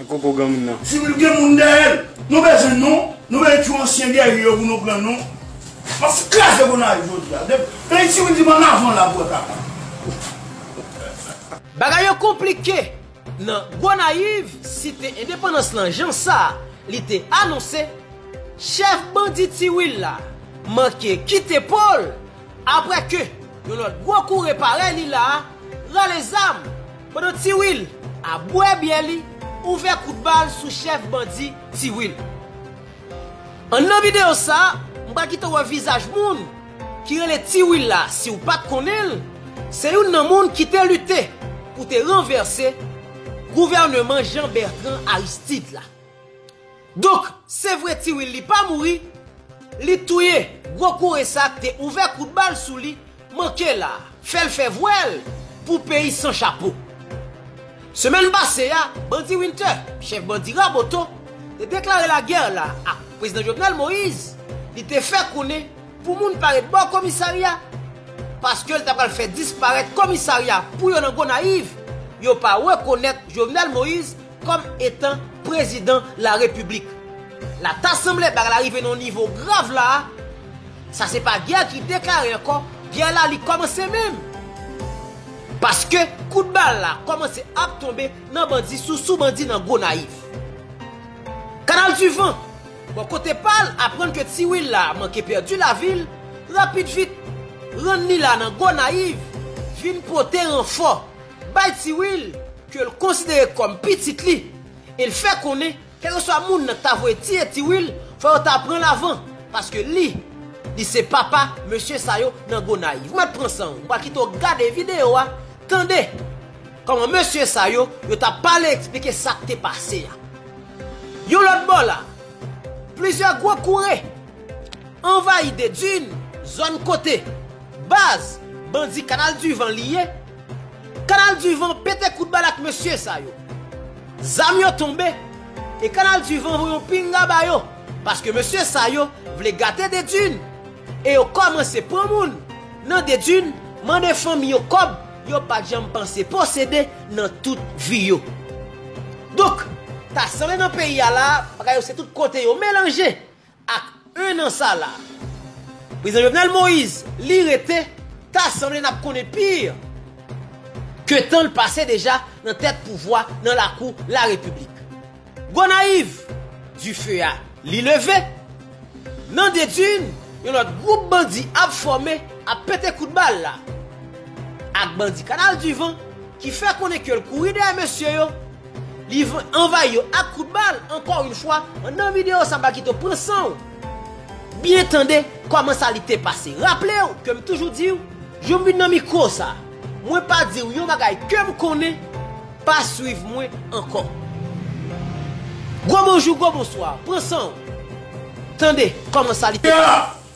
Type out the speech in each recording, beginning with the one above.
Di wi l gen moun dèyè l. Nou bezwen non, nou bezwen tchou ansyen geri yo pou nou pran non. Map fout kraze Gonayiv jodi a. Depi ti wi di m an avan la pou wè kaka. Bagay yo konplike nan Gonayiv site endepandans lan jan sa li te anonse, chèf bandi Ti Wil la manke kite po l aprè ke yon lòt gwo koure parèy li la rale zam. Pandan Ti Wil ap bwè byè li ouvè kout bal sou chèf bandi Ti Wil. An nan videyo sa m pral kite w wè vizaj moun ki rele Ti Wil la si w pat konnen l se youn nan moun ki te lite pou te ranvèse gouvèneman Jean Bertrand Aristide la. Donk se vre Ti Willie pa mouri, li touye gwo koure sa k te ouvè kout bal sou li, manke la a, fè l fè vwèl pou peyi san chapo. Semèn pase a, bandi Winter, chèf bandi Raboto, te deklare lagè la a Prezidan Jovenel Moïse, li te fè konnen pou moun pa ret bò komisarya, paske l ta pral fè disparèt komisarya pou yo nan Gonayiv, yo pa rekonèt Jovenel Moïse, Kòm etan prezidan la repiblik. La ta sanble bagay la rive nan yon nivo grav la a, sa se pa gè ki deklare ankò, gè la li kòmanse menm. Paske kout bal la kòmanse ap tonbe nan bandi sou sou bandi nan Gonayiv. Kanal di van, bò kote pa l, aprann ke Ti Wil la manke pèdi lavi l, rapid vit, rann li la nan Gonayiv, vin pote ranfò, bay Ti Wil. ke l konsidere kòm pitit li e l fè konnen kèlkeswa moun nan k ta voye tiye tiwil fò yo ta pran l avan paske li li se papa mesye sa yo nan Gonayiv. Mèt pran san w, m pral kite w gade videyo a, tande kòman mesye sa yo yo t ap pale eksplike sa k te pase a. Yon lòt bò la, plizyè gwo koure. Anvayi Dedun, zòn kote, baz, bandi Kanal du Van li ye. Kanal du Van pete kout bal ak mesye sa yo. Zam yo tonbe, e Kanal du Van voye yon pinga ba yo, paske mesye sa yo vle gate Dedun, e yo kòmanse pran moun nan Dedun, mande fanmi yo kòb yo pat janm panse posede nan tout vi yo. Donk, ta sanble nan peyi a la, bagay yo se tout kote yo melanje. Ak 1 an sa la. Prezidan Jovenel Moise li rete ta sanble nap konnen pi ke tanl pase deja nan tèt pouvwa nan lakou la repiblik. Gonayiv, dife a li leve, nan Dedun yon lòt gwoup bandi ap fòme ap pete kout bal la ak bandi kanal du van ki fè konnen kel kouri dèyè mesye yo, Li anvayi yo ak kout bal ankò yn fwa nan video sa Bakyto pran sanw byen tande kòman sa li te pase raplew kem toujou diw joum vin nan mikro sa mwen pa diw yon bagay kem konnen pa swiv mwen ankò gwo bonjou gwo bonswa pran sanw tande kòman sa li te pase.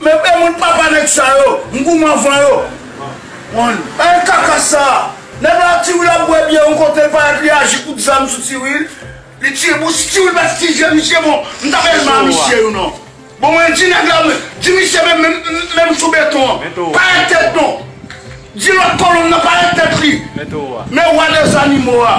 Men pe moun papa neg sa yo m gou m anvan yo one. Anh kaka sa, nèg la ak tiwil ap bwè byè yon kote l parèt li aji kout zam sou tiwil, li tiye bon si tiwil pat ki je misye bon m tap elman a misye wi non bon mwen di nèg la mwen di misye menm menm sou beton an parèt tèt non di lòt kolonn nan parèt tèt li men wa de zanimo a.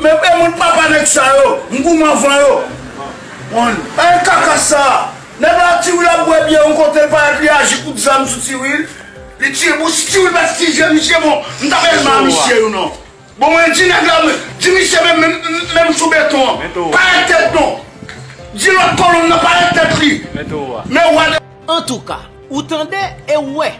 Men pe moun papa neg sa yo m gou m anvan yo one. Anh kaka sa! Nèg la ak tiwil ap bwè byè yon kote l parèt li aji kout zam sou tiwil li tiye bon si tiwil pat tiye misye bon m tap elman a misye yo non bon mwen di nèg la di misye menm menm sou beton an parèt tèt non di lòt kolonn nan parèt tèt li men wa de Antouka ou tande e ou wè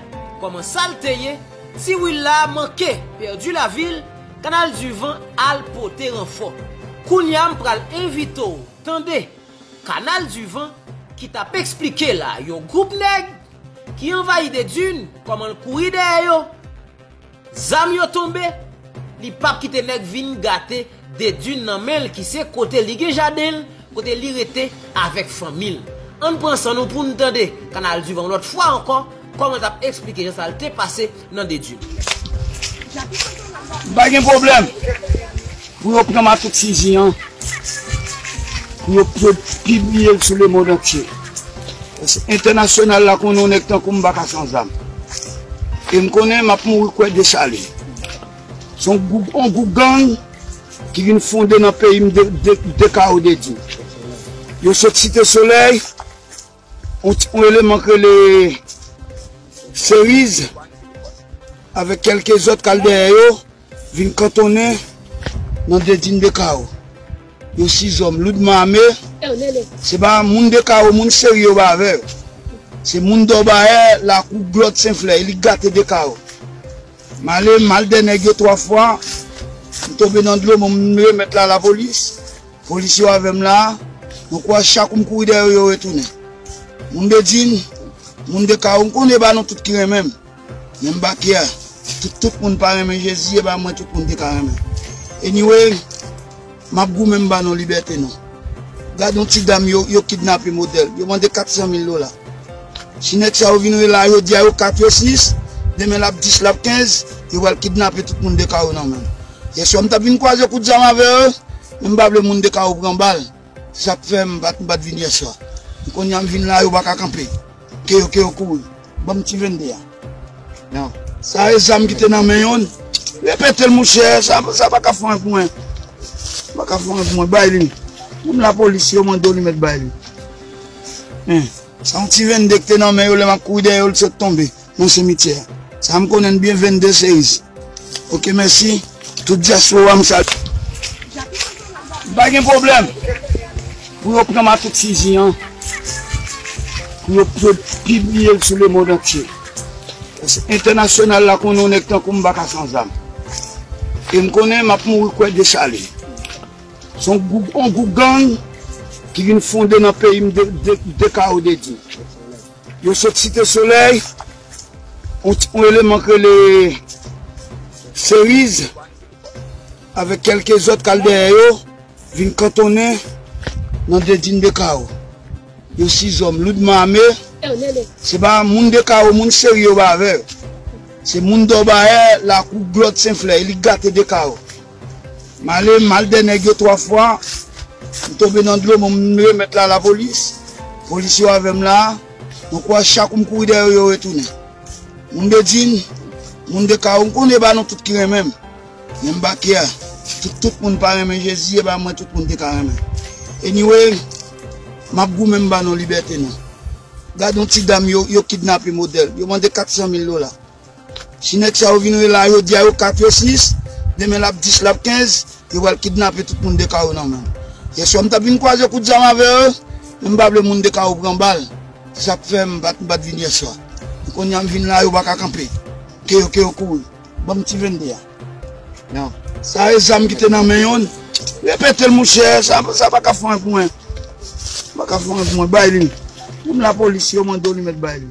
kòman sal te ye tiwil la manke pèdi lavil. Kanal du van al pote ranfò. Kounya m pral envite w tande kanal du van ki tap esplike la yon group nèg ki anvayi Dedun kòman l kouri dèyè yo zam yo tonbe li pap kite nèg vin gate Dedun nan men l ki se kote li gen jaden l kote li rete avèk fanmi l ann pran san nou pou n tande kanal du van yon lòt fwa ankò. Koman tap esplike jan sa l te pase nan de dil. Pa gen pwoblèm pou yo pran makout fizi an pou yo pibliye l sou lemond antye paske entènasyonal la konnen yon nèg tankou m pa ka san zam e m konnen m ap mouri kwè Desalin se yon gwoup gang ki vin fonde nan peyi m de kao de dil yo sot site solèy. Yon eleman k rele Seriz avèk kèlke zòt k al dèyè yo vin kantonnen nan Dedin Dekawo. Yo sizòm loudman ame, se pa moun Dekawo, moun Seri yo ba avè yo. Se moun Dòbayè, lakou Glòt Senflè, elit gate Dekawo. M ale, m al dè nèg yo twa fwa, m tonbe nan dlo, m remèt la lapolis. Polis yo avèm la, mwen kwè chak ou m kouri dèyè yo yo retounen. Moun de Djin, moun de Kawo m konnen e ba nou tout ki renmen m, men m ba kyè tout tout moun pa renmen Jezi e ba mwen tout moun te ka renmen. Anyway, m ap goumen m ba nou libète nou. Gad yon ti dam yo yo kidnape modèl, yo mande 400 mil dola. Si nèg sa yo vin rele la jodi a yo 4 yo 6, demen l ap 10 l ap 15, yo pral kidnape tout moun de Kawo nan menm. Yèswa m tap vin kwaze kout zam avè yo men m pa vle moun 2 ka yo pran bal se sak fè m pat vin yèswa men konnya m vin la yo paka kanpe ke yo ke yo kouri banm ti 22 a nan sa e zam ki te nan men yo repetel mouchè sa paka fon ak mwen sa paka fon ak mwen bay li menm lapolis si yo mande w li mèt bay li men se yon ti 22 ki te nan men yo lè map kouri dèyè yo li sot tonbe. nan semityè sa m konnen n byen 22 seis ok mèsi tout diaspora m salye m pa gen pwoblèm pou yo pran makout fizi an pou yo pibliye l sou lemond antye paske entènasyonal la konnen yon nèg tankou m pa ka san zam e m konnen m ap mouri kwè dechale se yon gwoup gang ki vin fonde nan peyi m de kao de di. Yo sot site solèy yon eleman k rele Seriz avèk kèlke zòt k al dèyè yo vin kantonnen nan Dedin Dekawo. Yo sizòm loudman ame, se pa moun Dekawo, moun Seri yo pa avè yo. Se moun Dòbayè, lakou, Glòt, Senflè, elit gate Dekawo. M ale m al dè nèg yo 3 fwa, m tonbe nan dlo m remèt la lapolis, polis yo avè m la, mwen kwè chak kou m kouri dèyè yo yo retounen. Moun Bedjine, moun de Kawo m konnen e pa nou tout ki renmen m, men m pa kè, si tout moun pa renmen Jezi e ba mwen tout moun te ka renmen. Anyway, m ap goumen m ba nou libète nou. Gad yon ti dam yo kidnape modèl, yo mande 400 mil dola. Si nèg sa yo vin rele la jodi a yo 4 yo 6 demen lap 10 lap 15 yo pral kidnape tout moun dekawo nan menm yè swa m tap vin kwaze kout zam avè yo men m pa vle moun dekawo pran bal se sak fè m pat vin yè swa men konnya m vin la yo paka kanpe ke yo ke yo kouri banm ti 22 a nan sa e zam ki te nan men yo repete l mouche sa sa paka fon ak mwen sa paka fon ak mwen bay li menm lapolis yo mande w li mèt bay li.